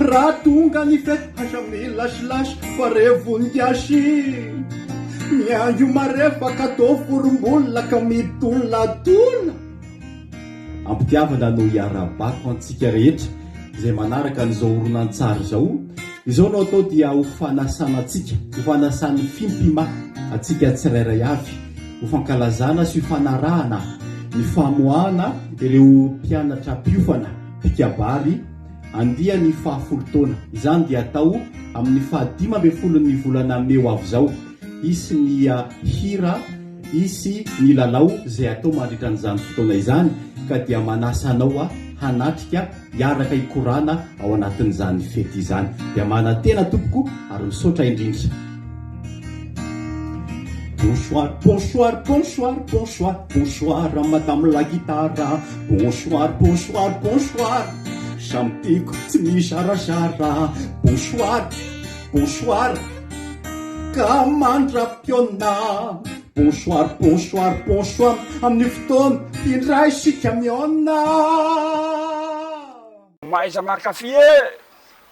Raha tonga ny fety haza milasilasa pare voninkazy Miandry ho marefaka atao vorombola ka midolatola Am-pitiavana no iarahabako antsika rehetra izay manaraka an'izao horonantsary izao Izao no atao dia ho fanasana antsika, ho fanasan'ny fimpima antsika tsirairay avy Ho fankalazana sy fanarahana ny famoahana ireo mpianatra mpiofana mpikabary andiany fahafolo taona. Izany dia atao amin'ny fahadimy ambin'ny folon'ny volana mey ho avy izao. Hisy ny hira, hisy ny lalao izay atao mandritra an'izany fotoana izany ka dia manasa anao hanatrika hiaraka hikorana ao anatin'izany fety izany. Dia manantena tompoko ary misaotra indrindra. Bonsoir bonsoir bonsoir bonsoir bonsoir madame la guitare bonsoir bonsoir bonsoir samy tiako tsy mizarazara bonsoir bonsoir ka mandra-potoana bonsoir bonsoir bonsoir amin'ny fotoana indray isika mihaona Mahaiza mankafy e!